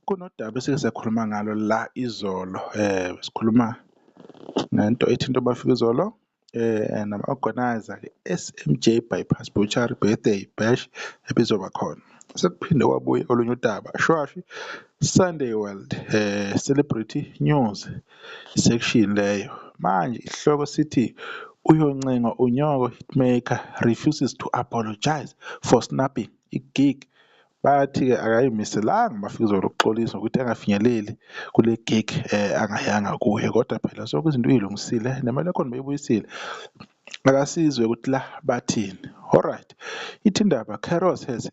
Kunodaba esike sakhuluma ngalo la izolo sikhuluma ngento ethinta obafikizolo nama-organiser-ke e-S_M_J Bypass Butchery Birthday Bash ebizoba khona. Sekuphinde kwabuya olunye udaba Sunday World Celebrity News section leyo. Manje isihloko sithi Uyoncenga unyoko Hitmaker refuses to apologise for snubbing i-gig. Bathi-ke akayimiselanga uMafikizolo ukuxolisa ngokuthi angafinyeleli kule gig eh, angayanga kuyo kodwa phela sonke izinto uyilungisile nemali yakhona beyibuyisile akasizwe ukuthi la bathini. Alright, ithi indaba Carol says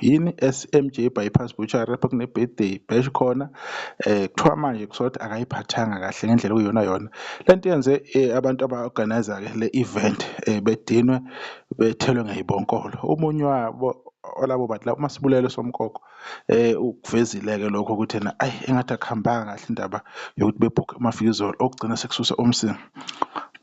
yini SMJ bypass butchery lapho kune birthday bash khona eh kuthiwa manje kuthiwa ukuthi akayiphathanga kahle ngendlela okuyona yona lento yenze eh, abantu aba organizer ke le event eh, bedinwe bethelwe ngeyibonkolo umunye wabo olabo bantu lapho masibulele somkoko eh ukuvezileke lokho ukuthi na ayi engathi akuhambanga kahle indaba yokuthi bebhukhe amafizolo okugcina sekususe umsini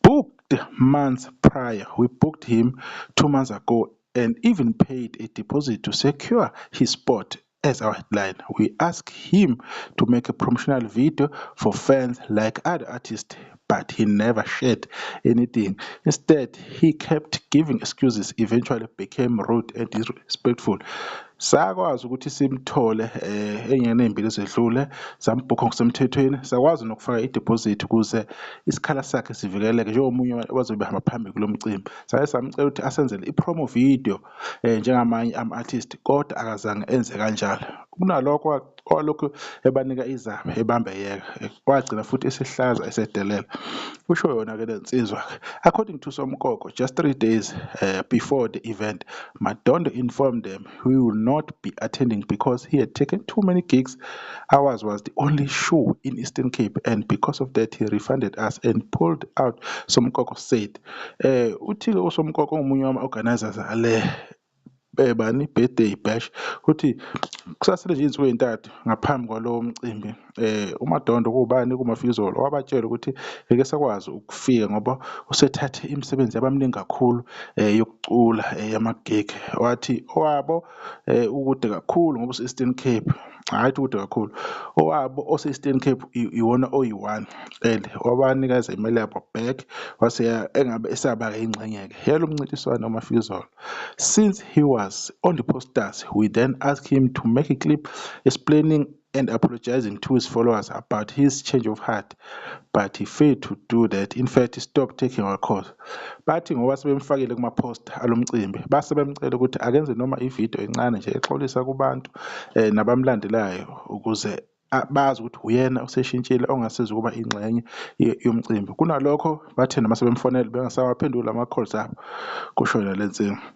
booked months prior we booked him two months ago and even paid a deposit to secure his spot as our headline. We asked him to make a promotional video for fans like other artists, but he never shared anything. Instead, he kept giving excuses, eventually became rude and disrespectful. sakwazi ukuthi simthole um eh, enyangeni ey'mbili ezedlule sambhukha ngokusemthethweni sakwazi nokufaka idepozithi ukuze isikhala sakhe sivikeleke njengomunye wazobe behamba phambili kulo mcimbi saye samcela ukuthi asenzele i-promo video eh, njengamanye ama-artist kodwa akazange enze kanjalo kunalokho walokhu ebanika izaba ebambe yeka wagcina futhi esihlaza esedelela usho yona-ke le nsizwa according to somkoko just three days uh, before the event madondo informed them he will not be attending because he had taken too many gigs ours was the only show in eastern cape and because of that he refunded us and pulled out somkoko said Uthi-ke uSomkoko ongomunye wama-organisers ale bani birthday bash uthi kusasele nje izinsuku ezintathu ngaphambi kwalowo mcimbi uMadondo kubani kuMafikizolo wabatshela ukuthi ngeke esakwazi ukufika ngoba usethathe imisebenzi yabaminingi kakhulu yokucula yama-gig wathi owabo eh ukude kakhulu ngoba use-Eastern Cape hhayi ukuthi kakhulu owabo ose-Eastern Cape iwona oyi-one and wabanikeza imali yabo back wase engabe esaba ingxenye-ke yalo mncintiswano uMafizolo since he was on the posters we then ask him to make a clip explaining and apologizing to his followers about his change of heart but he failed to do that in fact he stopped taking our calls bathi ngoba sebemfakile kuma-poster alomcimbi base bemcela ukuthi akenze noma ividiyo encane nje exolisa kubantu um nabamlandelayo ukuze bazi ukuthi uyena oseshintshile ongasiza ukuba ingxenye yomcimbi kunalokho bathi noma sebemfonele bengasawaphenduli ama-calls abo kusho yena le nsinga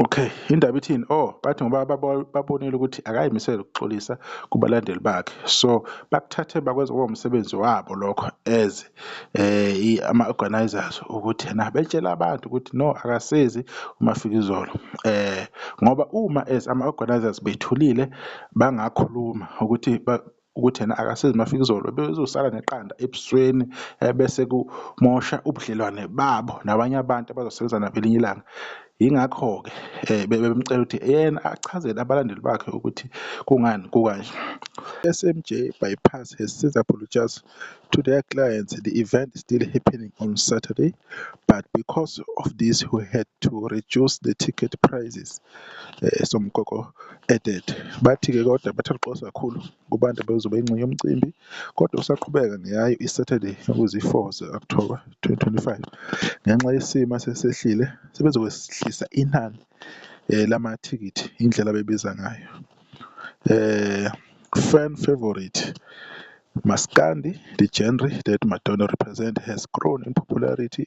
Okay, indaba ithini? Oh, bathi ngoba babonile ukuthi akayimisele ukuxolisa kubalandeli bakhe. So bakuthathe bakwenza kube umsebenzi wabo lokho as eh ama organizers ukuthi na betshela abantu ukuthi no akasezi uMafikizolo. Eh ngoba uma as ama organizers bethulile bangakhuluma ukuthi ukuthi yena akasizi mafikizolo bezosala neqanda ebusweni eh, bese kumosha ubudlelwane babo nabanye abantu abazosebenza nabo elinye ilanga yingakho-ke um bebemcela ukuthi yena achazele abalandeli bakhe ukuthi kungani kukanje smj bypass has since apologized to their clients the event is still happening on saturday but because of this we had to reduce the ticket prices um eh, somkoko added. Bathi-ke kodwa bathokoza kakhulu kubantu ababezoba yingxenye yomcimbi kodwa usaqhubeka ngeyayo iSaturday okuzi-4 ze-Okthoba 2025. Ngenxa yesimo esesehlile sebezokwehlisa inani eh, lamathikithi indlela abebiza ngayo. Eh, fan favorite Maskandi, the genre that Madonna represent has grown in popularity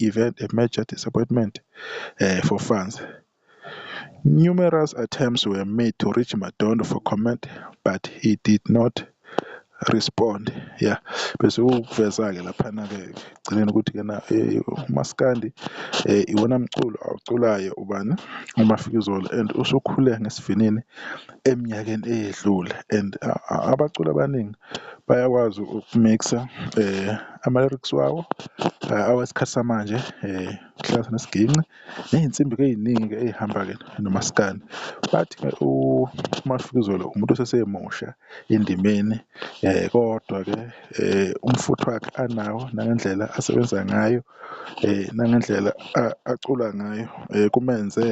I've had a major disappointment uh, for fans. Numerous attempts were made to reach Madondo for comment, but he did not respond yeah bese ukuveza-ke laphana-ke ekugcineni ukuthi kena eh, umaskandi um iwona mculo awuculayo ubani umafikizolo and usukhule ngesivinini eminyakeni eyedlule and abaculi abaningi bayakwazi ukumixa um ama-lyrics wawo awesikhathi samanje kuhlanganisa nesiginci ney'nsimbi-ke ey'ningi-ke ey'hamba-ke nomaskandi. Bathi-ke uMafikizolo umuntu osesemusha endimeni kodwa-ke umfutho wakhe anawo nangendlela asebenza ngayo nangendlela acula ngayo kumenze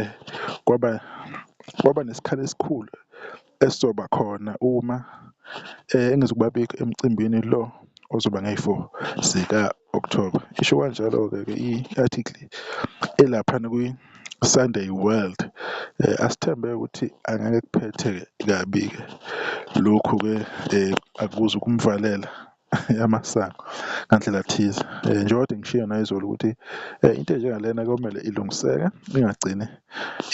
kwaba kwaba nesikhala esikhulu esizoba khona uma engizokuba bikho emcimbini lo ozoba ngeyi-four zika-Okthoba, isho kanjalo-ke ke i-article elaphana kwi-Sunday World. Asithembe ukuthi angeke kuphethe-ke kabi-ke lokhu-ke akuzukumvalela yamasango ngandlela thize um njengoba kade ngishiyo nayizolo ukuthi um into enjengalena komele ilungiseke ingagcini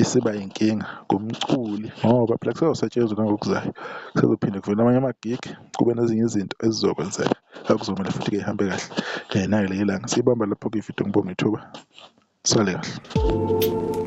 isiba yinkinga kumculi ngoba phela kusezosetshenzwa nangokuzayo kusezophinde kuvele amanye ama-gig kube nezinye izinto ezizokwenzeka akuzomele futhi-ke ihambe kahle um nayo leli langa siyibamba lapho-ke ividiyo ngibonga ithuba sale kahle